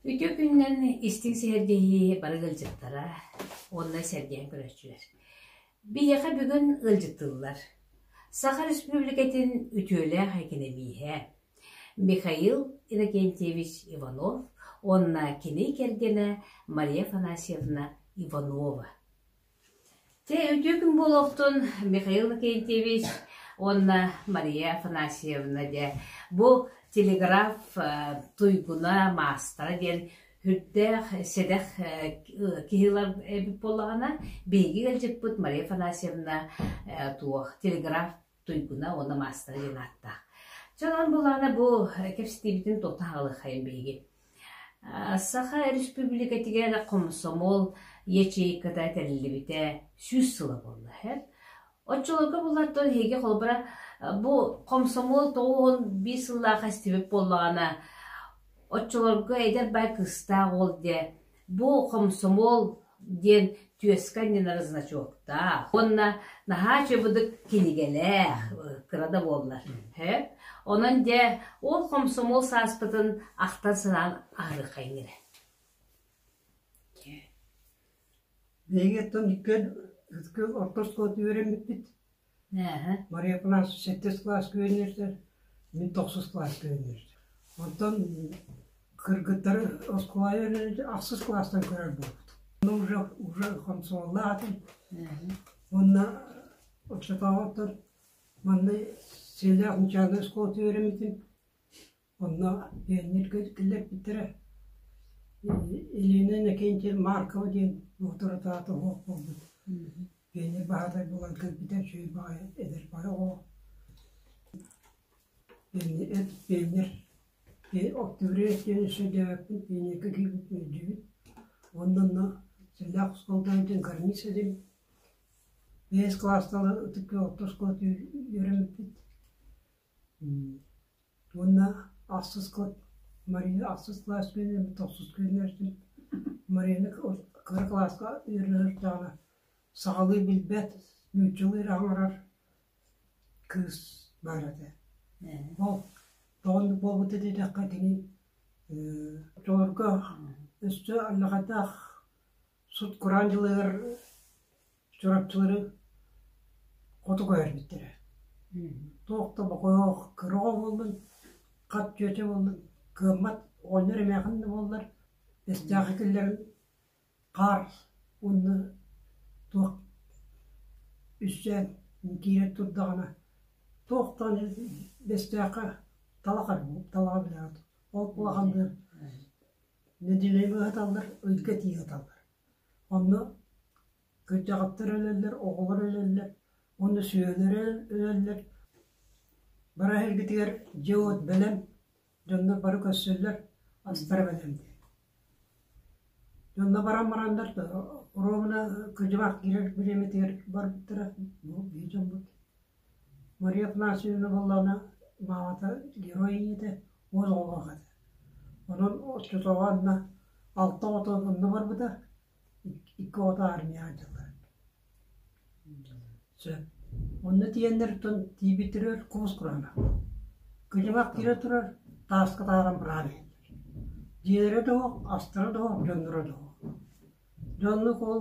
Үтүө күнүнэн истиҥ сэһэргэһии бары ыалдьыттара уонна сэргээн көрөөччүлэр. Биһиэхэ бүгүн ыалдьыттыллар. Саха Республикатын үтүөлээх экэнэмииһэ Михаил Иннокентьевич Иванов уонна кини кэргэнэ Мария Афанасьевна Иванова. Чэ, үтүө күн буолуохтун, Михаил Иннокентьевич уонна Мария Афанасьевна дьэ бу телеграф туйгуна маастара диэн үрдээх сэдэх киһилэр эбит буоллаҕына биһиги ыалдьыппыт Мария Афанасьевна туох телеграф туйгуна уонна маастара диэн ааттаах. Дьонон булаана бу кэпсэтиибитин туохта хаалыаххайын биһиги. Саха Республикатыгар комсомол ячейката этэллибитэ сүүс сыла буолла. Оччолорго булаттан эһиги холбара бу комсомол тоҕуһун биир сыллаах эстибит буоллаҕына оччолорго эдэр бай кыстаах ол диэ Бу «Комсомол» диэн түөскэ анньынар значоктаах уонна наһаа чыбыдык кинигэлээх кыра да буоллар. Онон дьэ ол «Комсомол» сааспытын ахтан-санаан ааҕыаххайыҥ эрэ. Эйигиттэн икки орто оскуола үөрэммиппит Нээһэ Мария-кылаас сэттис кылаас күөннүүрдэр, мин тохсус кылаас күөннүүрдэр. Оттон кыргыттары оскуолаҕа үөрэнэрдэ ахсыс кылаастан көрөр буолбут. Ону уже, уже хомсуоллаах атын уонна оччотооҕуттан манна Силлээх Ньычаана оскуолата үөрэммитим. Онно пионерга иттилэрбиттэрэ. Ильина Иннокентьев Маркова диэн доҕотторутаата оһох буолбут пионер баһатай буолан кэлбитэ үчүгэй баҕайы эдэр баҕа оҕо. Пионер, пионер Октября сэлээппин пионерга киирбит дьибит. Онно сэллээх оскуоладан дин гарниз этим. Бэс класстала ытык оттоскола үөрэммиппит. Уонна ахсыскыт Мария ахсыс кылаас үспүөнү тохсус күннэртин Марияны кыра кылааска ыарыһахтаҕына сахалыы билбэт, нууччалыы аҥарар кыыс баар этэ. Ол тоҕоннук буолбута диэтэххэ кини оҕолорго өссө аллахайдаах сут-кураан дьылыгар Чурапчылары хоту көһөрбүттэрэ. Туох да бокоох, кыра оҕо буоллун, хат чүөчэ буоллун, кыаммат оҕонньор эмээхин да буоллар, эстэхэ киллэрэн хаар уонна туох үсээн киирэр турдаҕына, туох даҕаны эстэхэ талаха талаҕа билэҕит. Ол улахан да нэдиэлэ быыһаталлар, ыйга тиийэ сыталлар. Онно кырдьаҕастар өлөллөр, оҕолор өлөллөр, уонна сүөһүлэрэ өлөллөр. Бар эһэлгитигэр дьэ-уот бэлэм, дьоннор бары көрсөллөр, астара бэлэм диэн. Дьонно баран бараннар то оруобуна кыдьыбах киирэр бириэмэтигэр барбыттара, бу биир дьоммут Мария Афанасьевна буоллаҕына, маамата герой ийэтэ, уол оҕолоох этэ. Онон оччотооҕу анна алта оҕото онно барбыта, икки оҕото армияҕа дьыллар. Сөп. Онно тиийэннэриттэн тиийбиттэригэр куус кураана. Кыдьаҕах киирэ турар, тааска таһааран быраан иһэллэр. Дьиэлэрэ да суох, астара да суох, дьонноро да суох. Дьоннук ол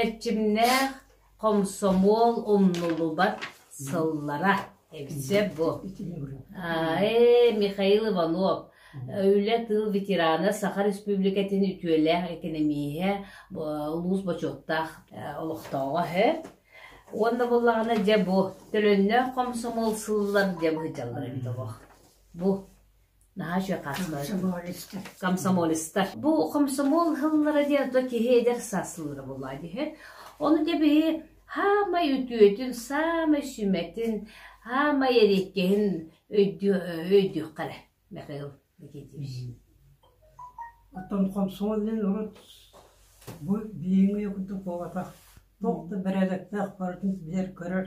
Эрчимнээх хомсомуол умнуллубат сыллара эбитэ буо ээ Михаил Иванов үлэ тыл ветерана Саха Республикатын үтүөлээх экэнэмииһэ улуус бочуоттаах олохтооҕо үһү уонна буоллаҕына дьэ бу төлөннөөх хомсомуол сыллар дьэ быһыдьаллар эбит бу наһаа үчүгэй хаастар комсомолецтар бу комсомол ыһыллара диэн ото киһи эдэр сасылыра буолуо диһи ону тэбиһи хаамай үтүөтүн саамай сүмэтин хаамай эриэккэһин өйдүөххэрэ мехаил никитич оттон комсомолын урут бу биһиги курдук буолбатах туох да бэрээдэктээх барытын билэр көрөр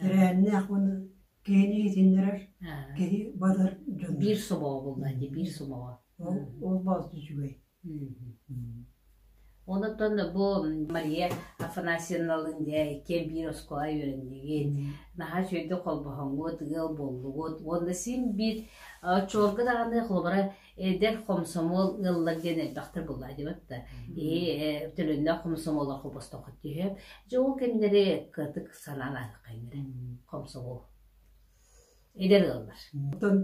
Тэрээһиннээх уону киһини иитиннэрэр, киһи батар дьон. Биир собоҕо буолла ити, биир собоҕо. Ол ол баҕас үчүгэй. Онтон бу Мария Афанасьевналыын дьэ иккиэн биир оскуола үөрэнигит, наһаа үчүгэйдик холбоһоҥҥут, ыал буоллугут. Уонна син биир оччолорго даҕаны холобура Эдэр хомсомуол ыаллар диэн элбэхтэр буолла диэбэт да ээ төлөннөөх хомсомуоллар холбостоххут диһэ дьэ ол кэмнэри кытык санаалааххайнары хомсомуол эдэр ыаллар оттон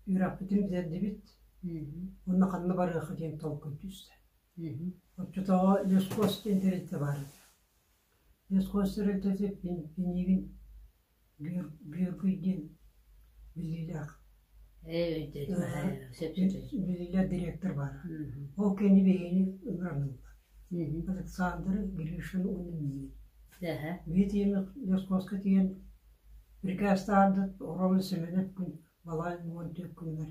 үрэхпитин бизэрдибит уонна ханна барыаха диэн толкуй түстэ оччотооҕу лескос диэн тэрилтэ баар лескос тэрилтэтин биниигин Бүөкүйдиин биллиилээх дириэктэр баара. Ол кэнни биһиги ыҥырыннылар. Александр Гришин уонна миигин. Биитиими Лескоска тиийэн Брикээстаардыт Орома Семенов күн балай уон түөрт күнүгэр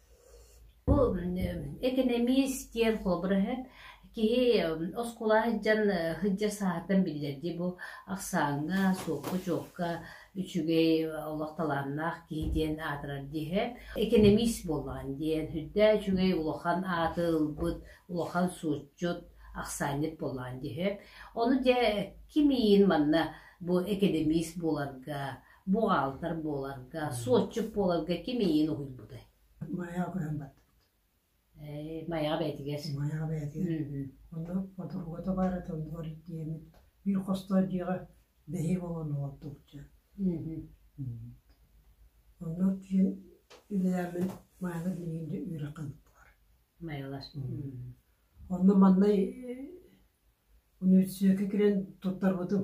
Бу экэнэмиис диэн холобура киһи оскуола сылдьан сылдьар сааһыттан биллэрдии бу ахсааҥҥа, суопка-дьуокка үчүгэй олох талааннаах киһи диэн аатырар дии. Экэнэмиис буоллаҕын диэн үрдээ үчүгэй улахан ааты ылбыт, улахан суотчут, ахсаанньыт буоллаҕын дии. Ону дьэ ким ийин манна бу экэнэмиис буоларга буҕаалтар буоларга, суотчут буоларга ким эйиэн уһуйбутай? Майаҕа көһөн бардыбыт. Ээ, Майаҕа бэйэтигэр. Майаҕа бэйэтигэр. Онно ходорго табаара тоннор диэмит. Биир хостоох дьиэҕэ бэһи болон олордубуча. Онно тиийэн үлэлээммин Майаҕа миигинде үөрэххэ быттылар. Майалас. Онно маннай университетке кирен туттарбытым.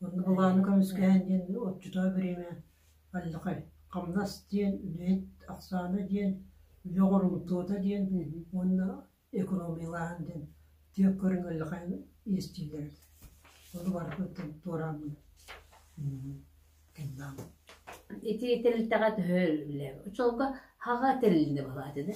Уонна былааны көмүскэһэн диэн отчуттаах бириэмэ аллахай хамнас диэн үлэһит ахсаана диэн үлэ оҥорумтуота диэн уонна экономиялааһын диэн түөх көрүҥ аллахайын иэстииллэр ону барытын туорааммын кыннаамын итии тэрилтэҕэ төһө үлэ оччолорго хаҕа тэрилинэ буолааты да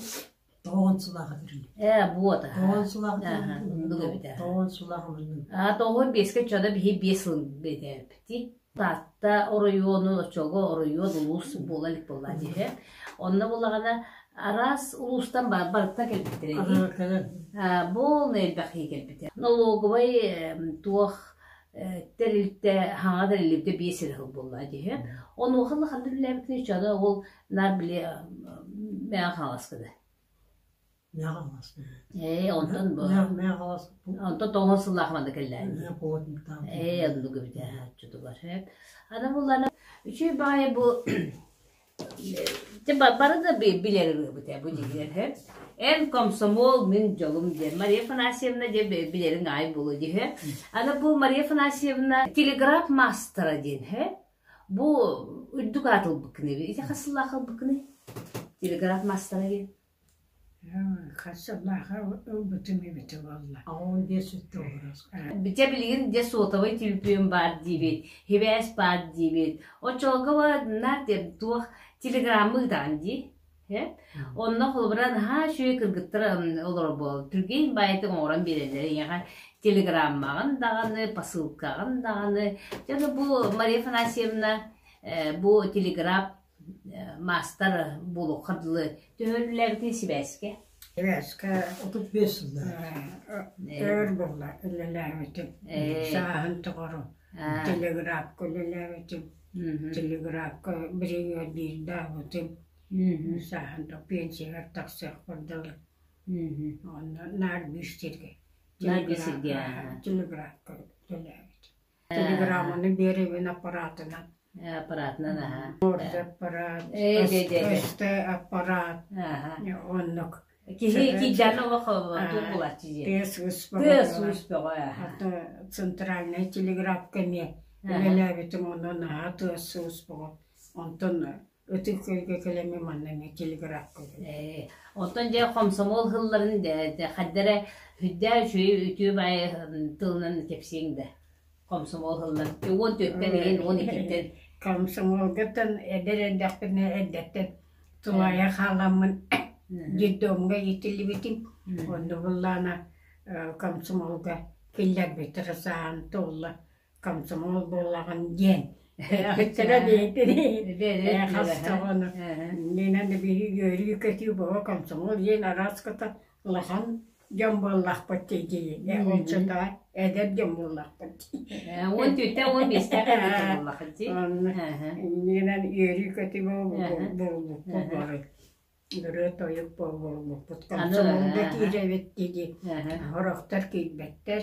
Тоҕон сулаах үрүн. Ээ, буот аһа. Тоҕон сулаах үрүн. Тоҕон сулаах үрүн. Аа, тоҕон биэскэ чада биһи биэс сыл битээпти. Таатта оройуону, оччолго оройуон улуус буола илик буолла дии. Онно булаҕана араас улуустан барыта кэлбиттэр эбит. Бу элбэхи кэлбиттэр. Налоговай туох тэрилтэ хаҥа тэрилтэ биэс сир сыл буолла дии. Онуоха ла ханна биллээбитин чада ол на били мэ хаҥаска да. Мэ хаҥас. Ээ онтон бу. Мэ хаҥас. Онтон тоҥон сыллаах манда кэллään. Ээ аны дугу битэ чутугар. Ана буллана үчү баай бу Ити бары да билэр ырыабыт ээ бу дьиһигэр Эн комсомол, мин дьолум диэн Мария Афанасьевна диэн билэриҥ аай буолуо дии Аны бу Мария Афанасьевна телеграф мастера диэн Бу үрдүк аат ылбыккыный ити хас сыллаах ылбыккыный? Телеграф мастера диэн Битэ билигин дьэ суотабай түбүкүөм баар диэбит, хибээс баар диэбит, оччолорго бараннар туох телеграммы ыытаҕын дии? Онно холобура наһаа үчүгэй кыргыттар олорбол түргэн баайтын оҥорон биэрэллэр ийэҕэ телеграммаҕын даҕаны посылкаҕын даҕаны дьэ бу Мария Афанасьевна бу телеграф маастар буолуохха дылы төһө үлэлээбитиҥ сибээскэ сибээскэ отут биэс сыллаах өр буолла үлэлээбитим сааһын тухары телеграфка үлэлээбитим телеграфка бригадирдаабытым сааһын тухары пенсияҕар тахсыах курдугу онно наар биир сиргэ телеграфка телеграфка үлэлээбитим Телеграмманы биэрэбин аппаратынан. Аппаратынан, аһа. Морда аппарат, өстө аппарат. Оннук. Киһи кийданы олох булаччы дии. Тыас успоҕо. Тыас успоҕо. Ата центральный телеграф кэмиэ үлэлээбитим онон аһа тыас успоҕо. Онтон ытык сиргэ кэлэммин манна эмиэ телеграфка Ээ, оттон дьэ хомсомуол сылларын дэ- дэ- хадда эрэ үрдээ үчүгэй үтүө баай тылынан кэпсиэҥ да хомсомуол сылларын уон түөрттэн иһин уон иккиттэн комсомолгаттан эдэр эрдэхпинэ эрдэттэн тумайа хааламмын детдомҥа иитиллибитим онно буллаана э, комсомолга киллэрбит ырысаан туолла комсомол буоллаҕын диэн өттөрө бэйэтин хастоҕону Нинаны биһиги-үөрүү-көтүү бого комсомол иэн арааската улахан дьон буоллахпыт дии олчата эдэр дьон буоллахпыт дии он түтэ он бестээх эдэр буоллахыт дии онно Нинан үөрүү-көтүү буолбуппут бары Өрөөт-тойук буолбуппут, комсомол да киирэбит дии Хорохтор киирбэттэр,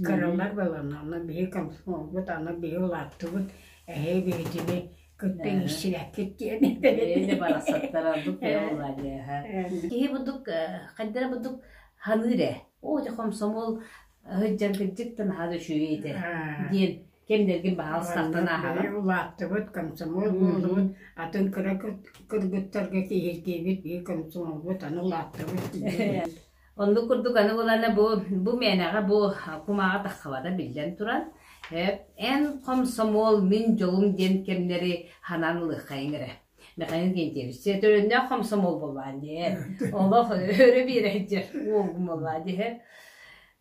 кыралар буоланнар, аны биһи комсомолбут, аны биһи улааттыбыт, эһээ биһитини кытта иирсибэккит диэн Киһи бурдук хайдара бурдук ханыыр ээ. Оо, дьэ комсомол сыдьаргыдьыктан аһаан үчүгэй этэ диэн кэмнэргин баҕалыстахтан ааһаҕын улааттыбыт комсомол буоллубут атын кыра кыргыттарга киһиргиибит и комсомолбут аны улааттыбыт оннук курдук аны булана бу бу мээнэҕэ бу кумааҕа таххабада биллэн туран эн комсомол мин дьолум диэн кэмнэри ханан ылыаххайың эрэ Михаил Гентьевич, төрөннөөх комсомол боллаан дии. Олох өрө биэрэйдер уолгум боллаан дии.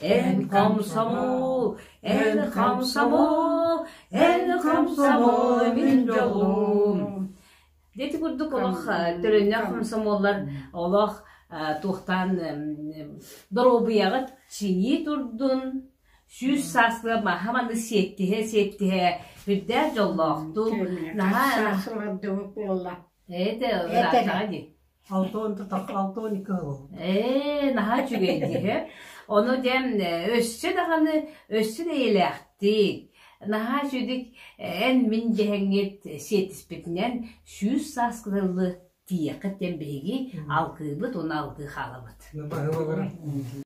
En комсомол, en комсомол, en комсомол мин дьолум. Дети курдук олох төлөннөх комсомоллар олох туохтаан доруобуйаҕыт чинии турдун сүүс сааскы маһа маны сиэттиһэ сиэттиһэ үрдээх дьоллоохтук наһаа эте Алты уон алты он екі сыл. Ээ, наһаа үчүгэй дии. Ону дьэм өссө даҕаны өссө эйэлээхтик, наһаа үчүгэй эн мин дьэһэҥҥит сиэтиспитинэн сүүс сааскы тыллы тиийэххит диэн биһиги алгыыбыт уонна алгыы хаалабыт.